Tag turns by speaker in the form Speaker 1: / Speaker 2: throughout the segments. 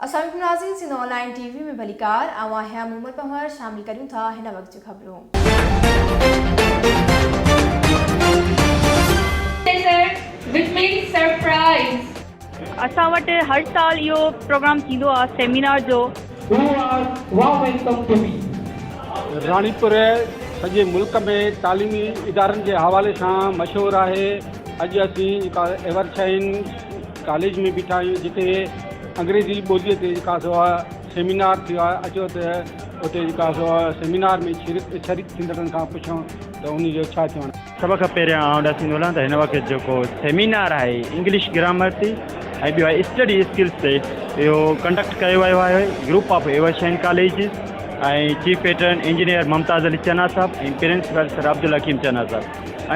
Speaker 1: اسلامعليڪم ناظرين Sindh online T V ۾ ڀليڪار آئون آهيان مومل پنهور شامل ڪريون ٿا هن وقت جون خبرون.
Speaker 2: اسان
Speaker 3: وٽ هر سال اهو پروگرام ٿيندو آهي سيمينار جو. هو آر واء ويلڪم ٽو مي.
Speaker 4: راڻيپور سڄي ملڪ ۾ تعليمي ادارن جي حوالي سان مشهور آهي. اڄ اسين جيڪا ايور شاهين ڪاليج ۾ بيٺا آهيون جتي انگريزي ٻولي تي جيڪا سو سيمينار ٿيو آهي اچو ته اتي جيڪا سو سيمينار ۾ شرڪ شريڪ ٿيندڙن کان پڇون ته ان جو ڇا چوڻ آهي. سڀ کان پهريان آئون ڏس
Speaker 5: ايندو هلان ته هن وقت جيڪو سيمينار آهي انگلش گرامر تي ۽ ٻيو آهي اسٽڊي اسڪلس تي اهو ڪنڊڪٽ ڪيو ويو آهي group of Evershine colleges ۽ chief patron engineer Mumtaz Ali Channa sahib ۽ principal sir Abdul Hakeem Channa sahib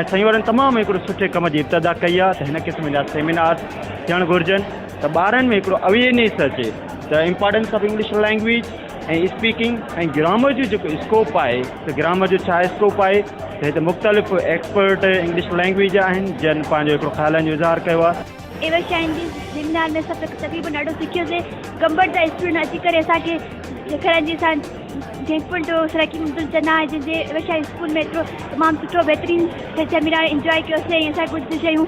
Speaker 5: ۽ سائين وارن تمام هڪڙو سٺي ڪم جي ابتدا ڪئي آهي ته هن قسم جا سيمينارس ٿيڻ گهرجن ته ٻارن ۾ هڪڙو اويئرنيس اچي ته importance of English language ۽ speaking ۽ grammar جو جيڪو اسڪوپ آهي ته گرامر جو ڇا اسڪوپ آهي ته هتي مختلف ايڪسپرٽ انگلش لينگويج جا آهن جن پنهنجو هڪڙو خيالن جو اظهار ڪيو آهي. ايوشيا انگلش
Speaker 3: سيمينار ۾ اسان تقريبن ڏاڍو سکيو سين گمبٽ جا اسٽوڊنٽ اچي ڪري اسان کي سيکارائين جي اسان ٿينڪ فل ٽو سرائيڪنگ عبدل چنا جن جي ايوشيا اسڪول ۾ ايترو تمام سٺو بهترين سيمينار انجوائي ڪيو سين ۽ اسان کي ڪجهه شيون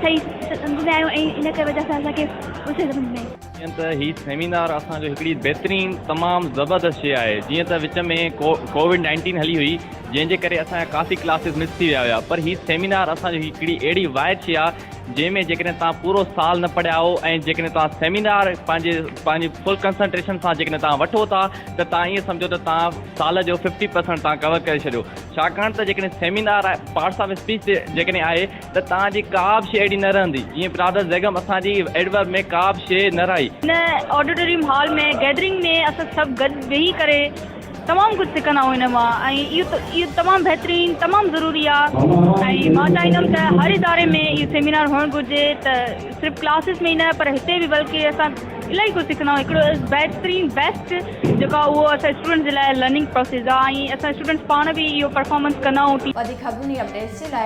Speaker 3: صحيح سمجهه ۾ آيون ۽ ان ڪري وجهه سان اسان کي ڪجهه سمجهه ۾ جيئن ته هي
Speaker 6: سيمينار اسان جو هڪڙي بهترين تمام زبردست شيء آهي جيئن ته وچ ۾ ڪووڊ نائنٽين هلي هئي جنهن جي ڪري اسان جا ڪافي ڪلاسز مس ٿي ويا هيا پر هي سيمينار اسان جو هڪڙي اهڙي واحد شيء آهي جنهن ۾ جيڪڏهن توهان پورو سال نه پڙهيا آهو ۽ جيڪڏهن توهان سيمينار پنهنجي پنهنجي فل ڪنسنٽريشن سان جيڪڏهن توهان وٺو ٿا ته توهان ائين سمجهو ته توهان سال جو ففٽي پرسنٽ توهان ڪور ڪري ڇڏيو ڇاڪاڻ ته جيڪڏهن سيمينار پارٽس آف اسپيچ تي جيڪڏهن آهي ته توهان جي ڪا به شيء اهڙي نه رهندي، جيئن برادر زيگم اسان جي ايڊورب ۾ ڪا به شيء نه رهائي. هن آڊيٽوريم
Speaker 3: هال ۾ گيدرنگ ۾ اسان سڀ گڏ ويهي ڪري تمام ڪجهه سکندا آهيون ان مان ۽ اهو تمام بهترين تمام ضروري آهي ۽ مان چاهيندم ته هر اداري ۾ اهو سيمينار هئڻ گهرجي ته صرف ڪلاسز ۾ ئي نه پر هتي به بلڪه اسان الاهي ڪجهه سکندا آهيون هڪڙو از بهترين بيسٽ جيڪو آهي اهو اسان اسٽوڊنٽس جي لاء لرننگ پروسيس آهي ۽ اسان اسٽوڊنٽس پاڻ
Speaker 1: به
Speaker 3: اهو
Speaker 1: پرفارمنس ڪندا
Speaker 3: آهيون ٽيم
Speaker 1: وڌيڪ
Speaker 3: خبرون
Speaker 1: ۽
Speaker 3: اپڊيٽس
Speaker 1: جي
Speaker 3: لاء